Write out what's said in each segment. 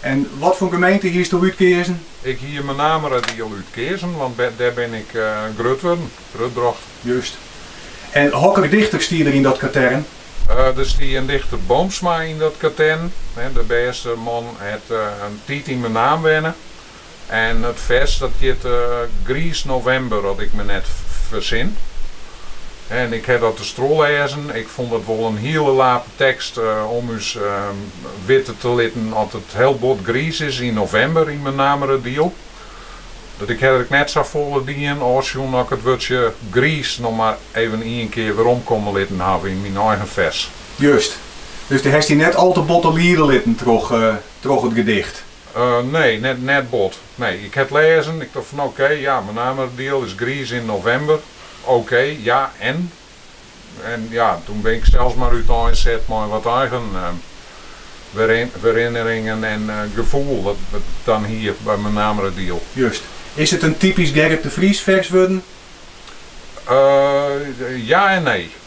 En wat foar gemeente hiesto útkeazen? Ik hie Menameradiel útkeazen, want dêr bin ik grut wurden, grutbrocht. Just. En hokker dichter stie der yn dat katern? Der stie in dichter Boomsma yn dat katern. De bêste man hat in tiid yn Menaam wenne. En it fers dat hjit Griis Novimber, as ik me net fersin. En ik ha dat dus trochleazen. Ik fûn dat wol in hiele lape tekst om ús witte te litten at it hiel bot griis is yn novimber yn Menameradiel. Dat ik ha der ek net sa folle dien ôfsjoen as ik it wurdsje griis noch mar even ien kear werom komme litten haw yn myn eigen fers. Just. Dus do hast dy net al te botte liede litten troch it gedicht? Nee, net bot. Nee, ik ha 't lêzen, ik tocht fan oké, ja, Menameradiel is griis yn novimber. Oké, ja, en? En ja, toen bin ik sels mar útein set mei in wat eigen herinneringen en gefoel dat ik dan hie by Menameradiel. Just. Is it in typysk Gerrit de Vries fers wurden? Ja en nee.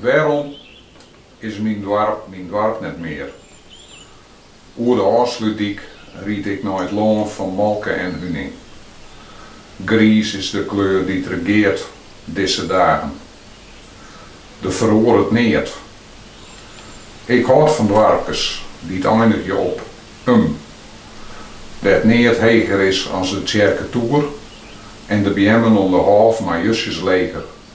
Wêrom is myn doarp myn doarp net mear? Oer de Ofslútdyk ried ik nei it lân fan molke en huning. Griis is de kleur dy't regeart dizze dagen. Der feroaret neat. Ik hâld fan doarpkes dy't einigje op -um, dêr't neat heger is as de tsjerketoer en de beammen om de hôf mar justjes leger.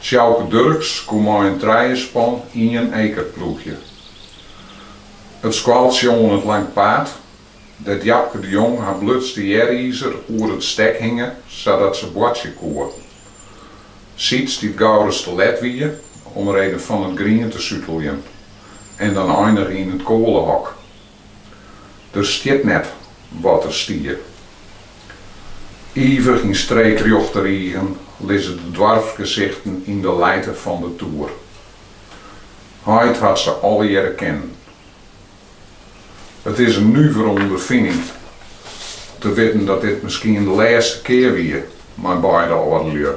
Sjouke Durks koe mei in trijespan ien eker ploegje. It skoaltsje oan it Lang Paad, dêr't Japke de Jong har blutste earizer oer it stek hinge sadat se boartsje koe. Siets dy't gau ris te let wie omreden fan it grien te suteljen en dan einige yn it koalehok. Der stiet net wat der stie. Ivich yn streekrjochte rigen lizze de doarpsgesichten yn de lijte fan de toer. Heit hat se allegearre kennen. It is in nuvere ûnderfining te witten dat dit miskien de lêste kear wie mei beide âldelju.